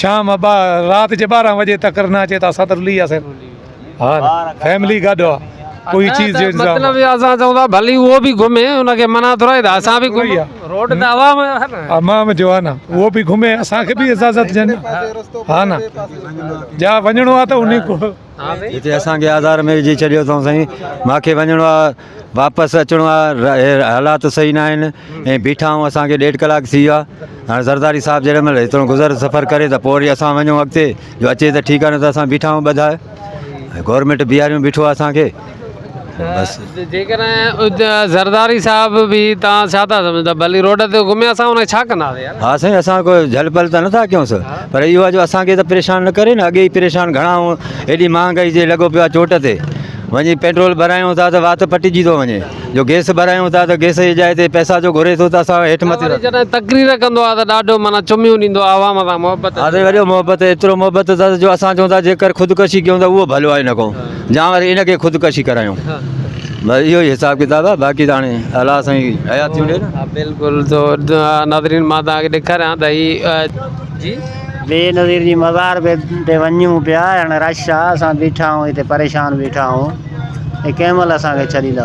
شام ابا رات جي ٻارهن وڄي تڪر نه اچي ته اسان ته رلي وياسين ها فيملي گڏ هئا ڪوئي چيز جو انتظام مطلب اهو اسان چئون ٿا ڀلي اهو به گهمي ان کي منع ٿورائي ته اسان به گهمون روڊ ته عوام جو آهي نه عوام جو آهي نه اهو به گهمي اسان کي به اجازت ڏين ها نه جا وڃڻو آهي ته انهي جتي اسان کي آڌار ۾ وجهي ڇڏيو اٿئون سائين ماکي وڃڻو آ واپس اچڻو آ حالات صحيح نه آهن ۽ بيٺا آهون اسان کي ڏيڍ ڪلاڪ ٿي ويو آ هاڻي زرداري صاحب جيڏي مهل هيترو گذر سفر ڪري ته پوء وري اسان وڃون اڳتي جو اچي ته ٺيڪ آ نه ته اسان بيٺا آهون ٻڌاء گورمينٽ بيهاريون بيٺو آ اسان کي بس زرداري صاحب به تان سا تھا سمجھن تھا بھلي روڊ تي گھمي اسا ان ڇا ڪنا سي يار ھا سائين اسا ڪو جھل پھل تان نٿا ڪيون سو پر اھو جو اسا کي تان پريشان نه ڪري نه اگي پريشان گھڻا ھون ايڏي مھانگائي جي لڳو پيو چوٽ تي وڃي پيٽرول ڀرايون تھا تان وات پٽجي ٿو وڃي جو گيس ڀرايون تھا تان گيس جي جاء تي پئسا جو گھري ٿو تان اسا ھيٺ مٿي ٿا ٿيون تقرير ڪندو آ تان ڏاڍو معنيٰ چميون ڏيندو آ عوام سان محبت آ سائين وڏو محبت ايترو محبت تھا جو اسا چئون تھا جيڪر خودڪشي ڪيون تان اھو ڀلو آھي نه ڪو جا وري ان کي خودڪشي ڪرايون بس اهو ئي حساب ڪتاب آهي باقي ته هاڻي الله سائين حيات ٿيون ڏي نه. بلڪل تو ناظرين مان توهان کي ڏيکاريان ته هي جي. بينظير جي مزار به تي وڃون پيا هاڻي رش آ اسان بيٺا آهون هتي پريشان بيٺا آهون هي ڪنهن مهل اسان کي ڇڏيندا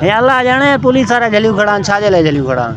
هي الله ڄاڻي پوليس وارا جهليون کڙا آهن ڇا جي لاء جهليون کڙا آهن.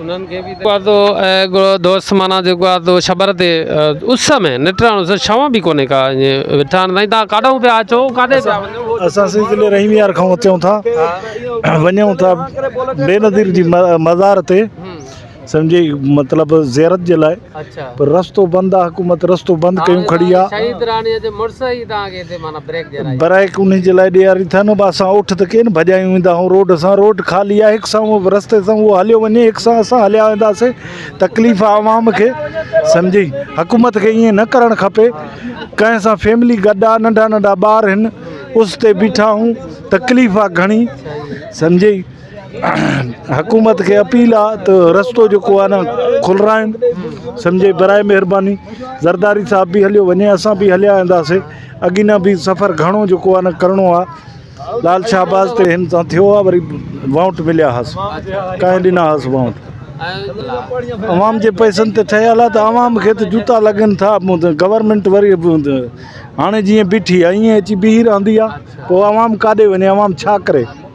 انهن کي به آدو ۽ دوست معنيٰ جيڪو آهي تو شبر تي اس ۾ نٽران اس شوان به ڪونهي ڪا ائين ويٺا آهن سائين تان ڪاڏهون پيا اچو ڪاڏي پيا وڃو اسان سائين ضلعي رحيم يار کان اچون ٿا وڃون ٿا بينظير جي مزار تي سمجهي مطلب زيارت جي لاء پر رستو بند آ حڪومت رستو بند ڪيون کڙي آ شهيد راڻي جي مڙس ئي توهان کي هتي معنيٰ بريڪ ڏيارائي بريڪ انهي جي لاء ڏياري ٿا نه اسان اٺ ته ڪين ڀڄايون ويندا آهيون روڊ سان روڊ خالي آ هڪ سان اهو رستي سان اهو هليو وڃي هڪ سان اسان هليا ويندا سي تڪليف آ عوام کي سمجهي حڪومت کي ائين نه ڪرڻ کپي ڪنهن سان فيملي گڏ آ ننڍا ننڍا ٻار هن اس تي بيٺا آهون تڪليف آ گهڻي سمجهي حڪومت کي اپيل آ ته رستو جيڪو آ نه کلرائن سمجهي برائي مهرباني زرداري صاحب به هليو وڃي اسان به هليا وينداسي اڳي نه به سفر گهڻو جيڪو آ نه ڪرڻو آ لال شاهباز تي هن سان ٿيو آ وري وانٽ مليا هاس ڪانهي ڏنا هاس وانٽ عوام جي پئسن تي ٺهيل آ ته عوام کي ته جوتا لڳن ٿا گورنمينٽ وري هاڻي جيئن بيٺي آ ايئن اچي بيهي رهندي آ پو عوام ڪاڏي وڃي عوام ڇا ڪري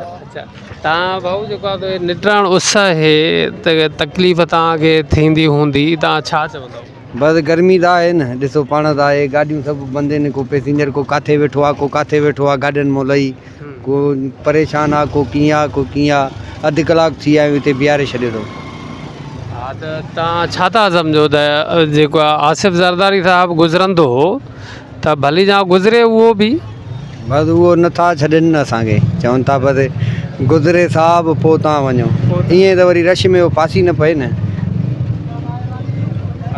اچا تان بھو جيڪو آھي تھ نٽراڻ اس آھي تھ تڪليف تان کي ٿيندي ھوندي تان ڇا چوندو. بس گرمي تھ آھي نھ ڏسو پاڻ تھ آھي گاڏيون سڀ بند ھين ڪو پئسينجر ڪو ڪاٿي ويٺو آ ڪو ڪاٿي ويٺو آ گاڏين مون لھي ڪو پريشان آ ڪو ڪيئن آ ڪو ڪيئن آ اڌ ڪلاڪ ٿي آيو ھتي بيھاري ڇڏيو تون. ھا تھ تان ڇا تھا سمجھو تھ جيڪو آ آصف زرداري صاحب گذرندو ھو ته ڀلي جان گذري اهو به. بس اهو نه ٿا ڇڏين اسان کي. چون ٿا بس گذري صاحب پوء تان وڃو. ائين ته وري رش ۾ اهو ڦاسي نه پئي نه.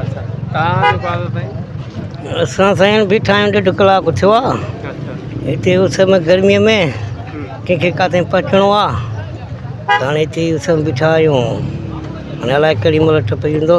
اچا تان جو ڪا ٿو سائين. اسان سائين بيٺا آهيون ڏيڍ ڪلاڪ ٿيو آ. اچا هتي اس ۾ گرمي ۾ ڪنهن کي ڪاٿي پهچڻو آ هاڻي هتي اس ۾ بيٺا آهيون هاڻي الاء ڪهڙي مهل ٽپي ويندو.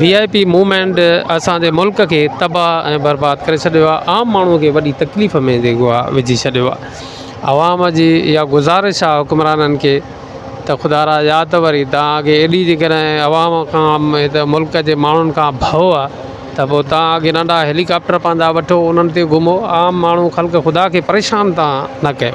وي آء پي موومينٽ اسان جي ملڪ کي تباھ ۽ برباد ڪري ڇڏيو آ عام ماڻھو کي وڏي تڪليف ۾ جيڪو آ وجھي ڇڏيو آ عوام جي اھا گذارش آ حڪمرانن کي ته خدا را يا ته وري تان اڳي ايڏي جيڪڏھن عوام کان ھته ملڪ جي ماڻھن کان ڀئو آ ته پو تان اڳي ننڍا ھيلي ڪاپٽر پنھنجا وٺو انھن تي گھمو عام ماڻھو خلق خدا کي پريشان تان نه ڪيو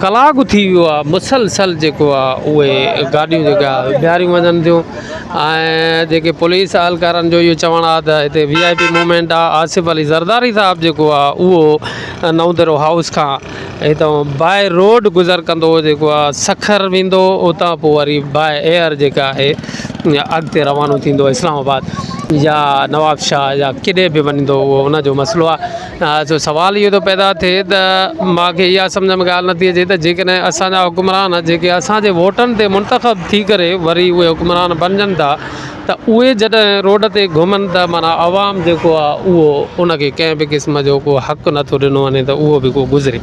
ڪلاڪ ٿي ويو آ مسلسل جيڪو آ اهي گاڏيون جيڪي آ بيهاريون وڃن ٿيون ۽ جيڪي پوليس اهلڪارن جو اهو چوڻ آ ته هتي وي آء پي مومينٽ آ آصف علي زرداري صاحب جيڪو آ اهو نوندرو هائوس کان هتو باء روڊ گذر ڪندو جيڪو آ سکر ويندو اتان پوء وري باء ايئر جيڪا آهي اڳتي روانو ٿيندو اسلام آباد يا نوابشاهه يا ڪيڏي به وڃندو اهو ان جو مسئلو آ سوال اهو ٿو پيدا ٿئي ته مان کي اها سمجهه ۾ ڳالهه نٿي اچي ته جيڪڏهن اسانجا حڪمران جيڪي اسانجي ووٽن تي منتخب ٿي ڪري وري اهي حڪمران بنجن ٿا ته اهي جڏهن روڊ تي گهمن ته معنيٰ عوام جيڪو آهي اهو ان کي ڪنهن به قسم جو ڪو حق نٿو ڏنو وڃي ته اهو به ڪو گذري